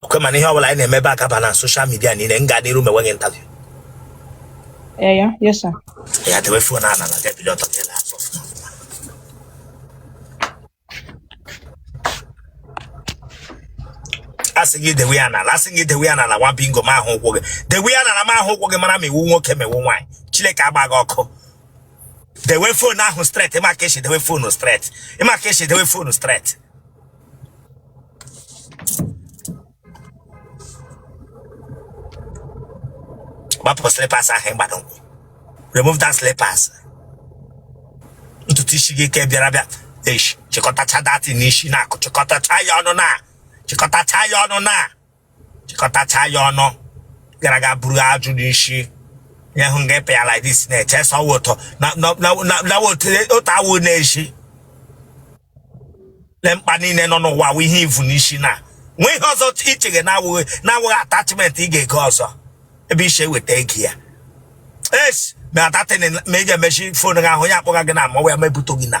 okay mana ihe ọbụla anyị na-emebe akaba na social media niile m ga-adịru m enweghị interview Yeah, yeah, yes, sir. ya dewe phone a na na gabido ọtọ gị na asọ ọfụma ọfụma. asị gị dewe ya n'ala asị gị dewe ya n'ala nwa bingo m ahụ ụkwụ gị dewe ya n'ala m ahụ ụkwụ gị mara ma ị wụ nwoke ma ị wụ nwaanyị chineke agba gị ọkụ dewe phone ahụ straight ị ma ka e si dewe phone straight ị ma ka e si dewe phone straight gbapụ slippers ahụ ị gbara ụkwụ remove that slippers ntutu isi gị ke bịara bịa eish chịkọtacha that thing n'isi na-akụ chịkọtacha ya ọnụ na chịkọtacha ya ọnụ na chịkọtacha ya ọnụ gara ga buru ajụ n'isi nye hụ nga ịpịa like this na-eche sọ ụtọ na otu a wụ na-esi le mkpa niile nọ n'ụwa wụ ihe i vu n'isi na nwee ihe ọzọ i cheghe na-awụghị na-awụghị attachment ị ga-ego ọzọ ebe i si eweta ego ya yes ma that thing ma ị ga-emechi phone gị ahụ onye akpọga gị na amawa ya mebụto gị na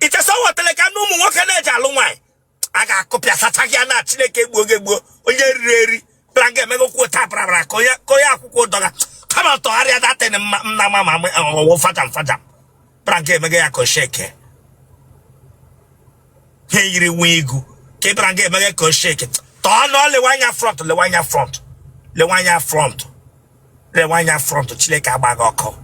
i che sị ọ wụ otele ka na ụmụ nwoke na-eji alụ nwaanyị a ga-akụpịa sacha gị ya na chineke gbuo gị gbuo onye riri eri bra ga emego kwuo taa brabra ka onye ka onye akwụkwọ ụdọ ga kama tọgharịa that thing nna ma ma ọ wụ fajam fajam bra ga emego ya ka ọ shake ha yiri nwa igu ka ị bra ga emego ka ọ shake turn o lewe anya front lewe anya front lewe anya front Lewe anya front Chineke agba gị ọkụ.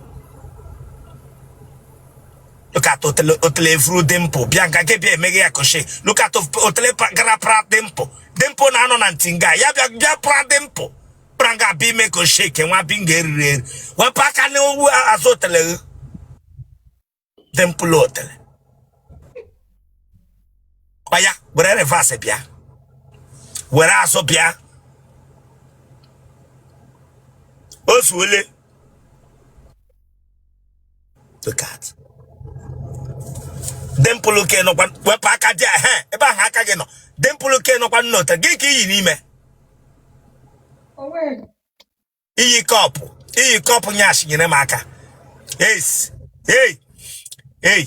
Look at otele otele vuru dimple bịa nga nke bịa emeghe ya ka ọ shake. Look at of- otele pra- gara pra dimple. Dimple na-anọ na nti nga ya bịa bịa pra dimple. Pra nga bịa ime ka ọ shake nwa bingo e riri eri. Wepụ aka n'owu azụ otele gị. dimple otele oya were reverse bịa were azụ bịa o zuole look at dimple ke nọkwa wepụ aka there ehe ebe ahụ aka gị nọ dimple ke nọkwa n'otele gị ke i yi n'ime Onwe i yi cup i yi cup nyash nyere m aka yes hey hey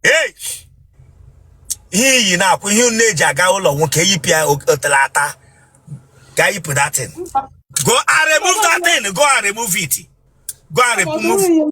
hey ihe i yi na-akwụ ihe unu na-eji aga ụlọ nwoke yipụ ya o- otele ata ga yipụ that thing go and remove that thing go and remove it go and remove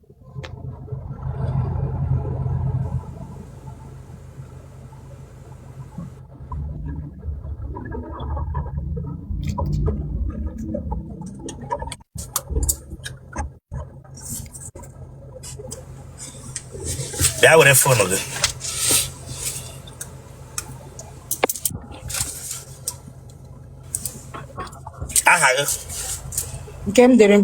bịa were fonu gị aha gị nke m dere m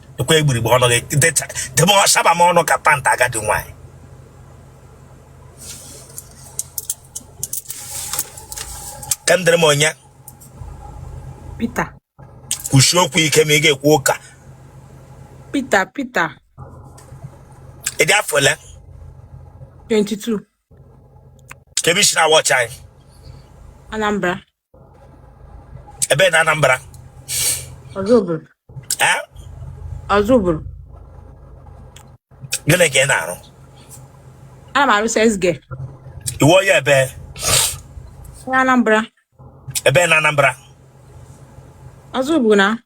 ekwe igburigbe ọnụ gị debe ọsaba m ọnụ ka pant agadi nwaanyị ka m dere m onye Peter kwusie okwu ike ma ị ga-ekwu ụka Peter Peter ị dị afọ ole 22 kebe i si na-awọchị anyị Anambra ebee na Anambra Ozubulu ee Ozubulu gịnị ka ị na-arụ ana m arụ sales girl ị wụ onye ebee Anambra ebee na Anambra Ozubulu na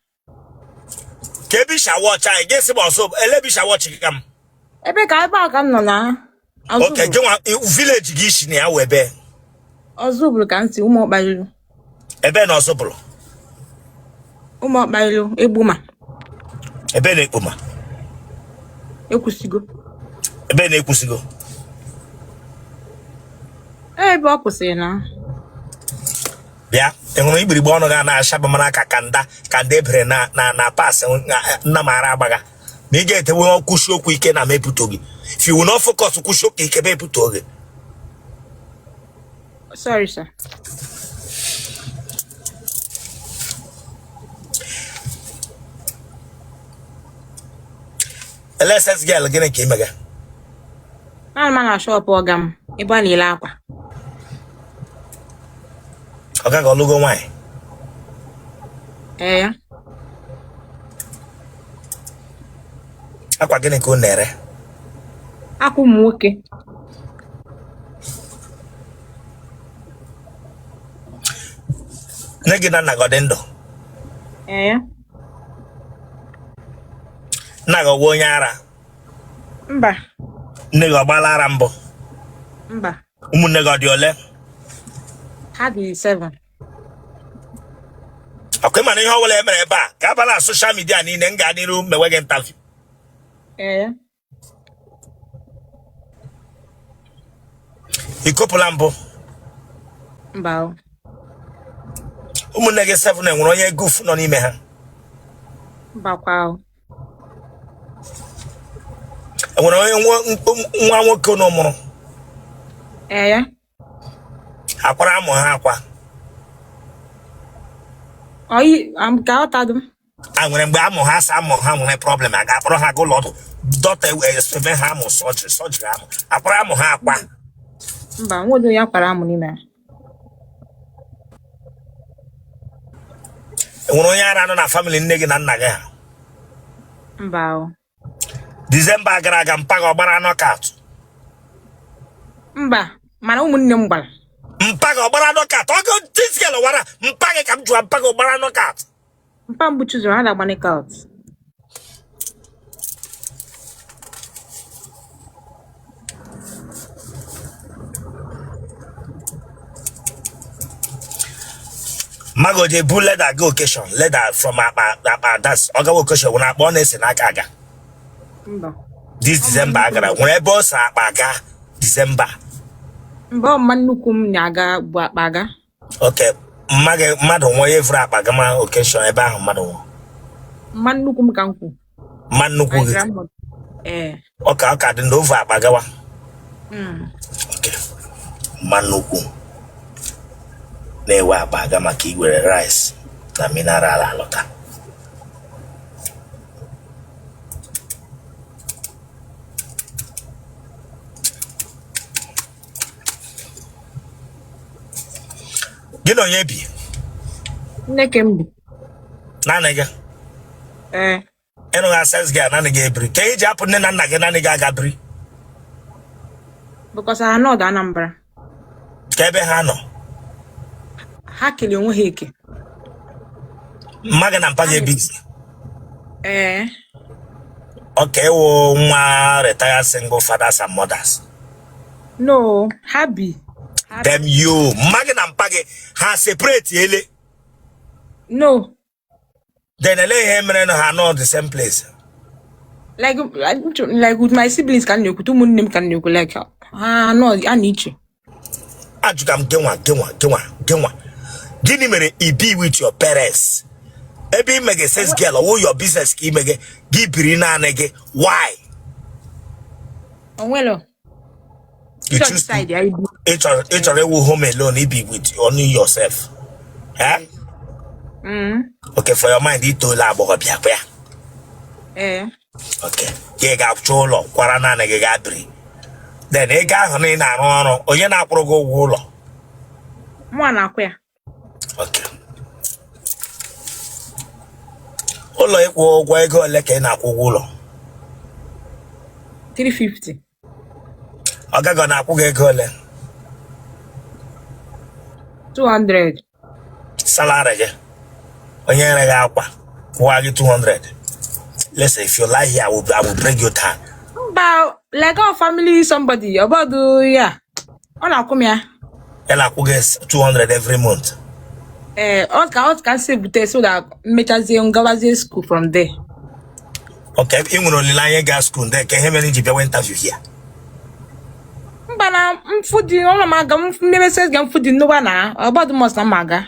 kebe i si awọchị anyị gị sị m ọsọ ele ebe i si awọchị gị ka m ebe ka ebe a ka m nọ na oke gị nwa vileji gị i si na ya wụ ebee Ozubulu ka m si ụmụ ọkpariru ebee na Ozubulu ụmụ ọkpariru Egbema ebee na Egbema Ekwusigo ebee na Ekwusigo ebe ọ kwụsịrị na bịa ị hụrụ igbirigbe ọnụ gị a na-acha bụ mara ka kanda kanda ebere na na na pas nna mara agbagha na ị ga-etewe kwusie okwu ike na mepụta gị if you will not focus kwusie okwu ike mepụta gị sorry sir ee sales girl gịnị ka ị mega anọ m na shọpụ ọga m ebe a na-ele akwa ọga gị ọ lụgo nwaanyị ee ya akwa gịnị ka unu na-ere akwa ụmụ nwoke nne gị na nna gị ọ dị ndụ ee ya nna gị ọ bụ onye ara mba nne gị ọ gbaala ara mbụ mba ụmụnne gị ọ dị ole ha dị seven ọ kwa ị ma na ihe ọbụla e mere ebe a ga-aba na soshal midia niile m gaa n'iru mewe gị intaviu ee ikopụla mbụ mba o ụmụnne gị seven enwere onye guf nọ n'ime ha mbakwa o enwere onye nwa- nwa nwoke unu mụrụ ee ya akwara amụ ha akwa ọyị am- ka ọ tadụ m a nwere mgbe amụ ha sa amụ ha nwere problem a ga-akpọrọ ha ga ụlọ ọgwụ doctors eme ha amụ surgery surgery amụ akwara amụ ha akwa mba nwere onye akwara amụ n'ime ya enwere onye ara nọ na family nne gị na nna gị ha mba o december gara aga mpa gị ọ gbara knockout mba mana ụmụnne m gbara mpa gị ọ gbara knockout ọgụ this girl wara mpa gị ka m jụwa mpa gị ọ gbara knockout Mpa mgbu chụzụrụ ha na-agba knockout. mma gị ọ dey bu leather ga occasion leather from akpa akpa that's ọ gawa occasion o nwere akpa ọ na-ese n'aka aga Mba. this december a gara nwere ebe ọ sa akpa aga december Mba ọ mma nnukwu m na-aga ebu akpa aga. okay mma gị mmadụ nwụọ ya evuru akpa gama occasion ebe ahụ mmadụ nwụọ mma nnukwu m ka m kwu mma nnukwu my gị grandmother ee ọ ka ọ ka dị ndụ o vu akpa gawa mm. okay mma nnukwu na-ewe akpa aga maka iwere rice na mineral alọta gị na onye bi nneke m bi naanị gị ee gịnwa sales girl naanị gị ebiri ka i ji hapụ nne na nna gị naanị gị aga biri because ha nọdụ anambra kee ebe ha nọ ha kere onwe ha eke mma gị na mpa gị ebizi ee okay ị wụ nwa retired single fathers and mothers no ha bi damn you mma gị na mpa gị ha separate ele no then ele ihe mere na ha nọ the same place like like with my siblings ka m na-ekwu ụmụnne m ka m na-ekwu like ha anọ a na iche ajụga m gịnwa gịnwa gịnwa gịnwa gịnị mere i bi with your parents ebe i mega sales girl ọ wụ your business ka i mega gị biri naanị gị why onwelo You church choose to- side ya ibu ị chọrọ ị chọrọ ịwụ home alone ibi with only yourself Eh? Mm, okay for your mind i toola agbọghọbịa ọ kwa ya ee okay gị gaa chọọ ụlọ kwara naanị gị gaa biri then nga ahụ na ị na-arụ ọrụ onye na-akwụrụ gị ụgwọ ụlọ mụa na-akwụ ya Okay. ụlọ ịkwụ ụgwọ ego ole ka ị na-akwụ ụgwọ ụlọ 350 oga gị ọ na-akwụ gị ego ole 200 salary gị onye nyere gị akwa kwụwa gị 200 listen if you lie here I will, I will break your tongue mba like our family somebody ọbọdụ ya ọ na-akwụ m ya ya na-akwụ gị 200 every month ee ọ ka ọ ka m si bute so that m mechazie m gawazie school from there okay ị nwere olileanya gaa school there ka ihe mere i ji bịawa interview here mba na m fudị ọnụ m aga m mmebe sales girl m fudị nnukwu na ọgbadụ must na m aga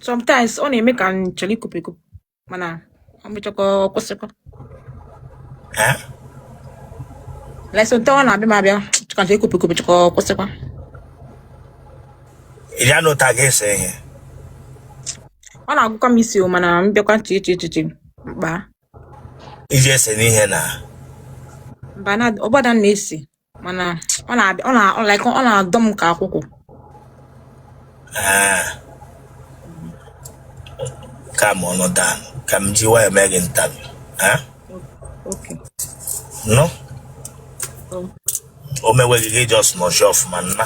sometimes ọ na-eme ka m chọrọ ikupu ikupu mana ọ mechakwa ọ kwụsịkwa Eh? like sometimes ọ na-abịa m abịa ka m chọrọ ikupu ikupu chọka ọ kwụsịkwa Ị bịa n'ụta gị ese ihe. ọ na-agụkwa m isi o mana m bịakwa nche eche echiche mkpa Iji ese n'ihe na. mba na ọgbada m na-esi mana ọ na-abịa ọ na ọ like ọ na-adọ m ka akwụkwọ Ah. calm ọnụ down ka m jiwa ya mee gị interview Ah? okay nụ oh, o mewe gị just nọchie ọfụma nna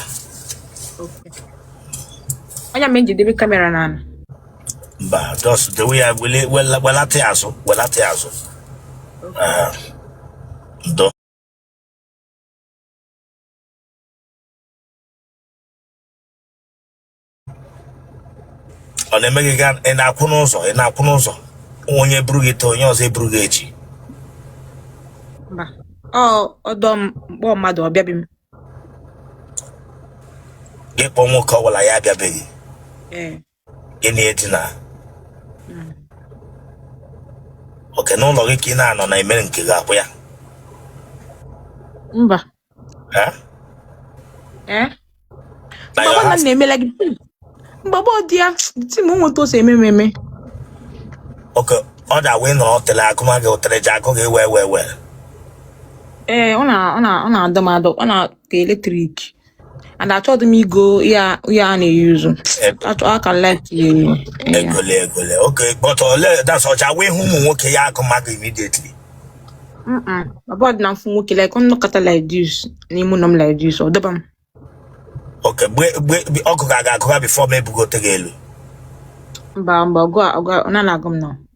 okay ọ ya mere m ji debe kamera n'ala mba just dewe ya wele- wela- welata ya azụ welata ya azụ Ah, ndo ọ na-eme gị ka ị na-akwụ n'ụzọ ị na-akwụ n'ụzọ onye buru gị taa onye ọzọ eburu gị echi mba ọ dọọ m m kpọọ mmadụ ọ bịabe m gị kpọọ nwoke ọ bụla ya abịabe gị ee gị na edina Mm. okay n'ụlọ gị ka ị na-anọ na emere nke gị akwụ ya mba Eh? ee na mgbe your ọbụla m house na-emela gị tim mgbe ọbụla dị ya tim nweta ose eme ememe okay ọ da wee nọrọ otele agụma gị otele ji agụ gị wee wee wee ee ọ na ọ na ọ na-adọ m adọ ọ na ka electric and achọghị m igo ya ya a na-eyuzu achọ aka left ya enyi ya egole egole okay but ole that's ọcha wee hụ ụmụ nwoke ya agụma gị immediately mba ọ bụdị na m fụ nwoke like m nọkata like this n'ime ụlọ m like this ọ dọba m okay mgbe mgbe mgbe ọkụ ga-aga agụba before m ebugote gị elu mba mba ọgụ a- ọgụ a- ọ na-agụ m na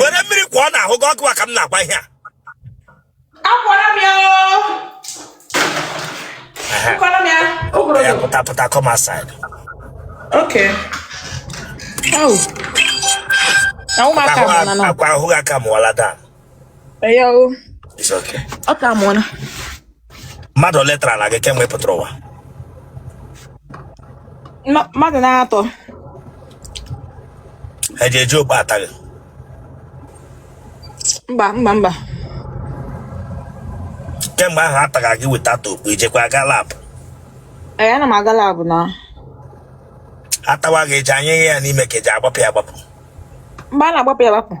were mmiri kwọọ n'ahụ gị ọ gịwa ka m na-agwa ihe a ya pụta pụta come outside Okay. Oh. Ahụ m aka m na nọ. akwa ahụ gị aka mụọla daa Eyo. It's okay. Ọ ka mụ na. Mmadụ ole tarana gị kemgbe ị pụtara ụwa? Ma- Mmadụ na-atọ. Ha eji eji okpu ata gị. Mba mba mba. Kemgbe ahụ a taga gị without okpu ị jekwa aga lab. Ee, ana m aga lab na. A tawa gị eji anyụ ya n'ime ka eji agbapụ ya agbapụ. mgbe a na-agbapụ ya agbapụ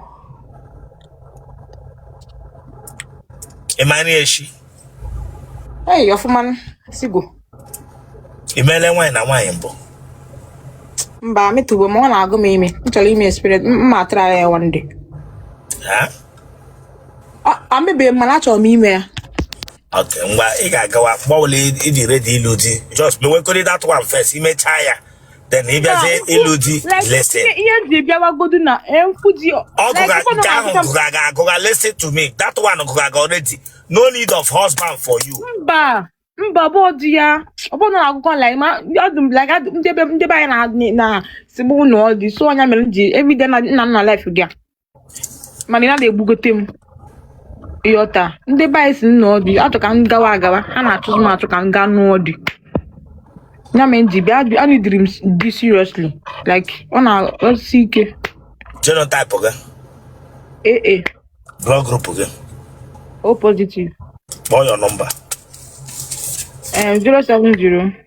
ị mara echi eyi ọfụma sigo ị meela nwaanyị na nwaanyị mbụ mba emetụbe m ma ọ na-agụ m ime m chọrọ ime experiment m try ya one day emebeghị m mana achọrọ m ime ya ok ngwa ị ga-agawa mgbe ọbụla ị dị ready ịlụ di just mewekọrị that one first ị mechaa ya then ị bịazie ịlụ di listen ihe m ji bịawagodu na m fụ di ọ gụga nke ahụ gụga gị agụga listen to me that one gụga gị already no need of husband for you mba mba ọ bụ di ya ọ bụ na agụkọ like ma ọdụ m like ndị be ndị be anyị na na sigbu nụọ di so ọ ya mere m ji everyday na-anọ na live gị mana ị naghị ebugote m ị ghọta ndị be anyị sị nụọ di a chọọ ka m gawa agawa ha na-achụzi m achụ ka m gaa nụọ di ya mere m ji bịa bịa a needịrị m di seriously like ọ na-arụsi ike genotype gị AA blood group gị O positive call your number Eh, 070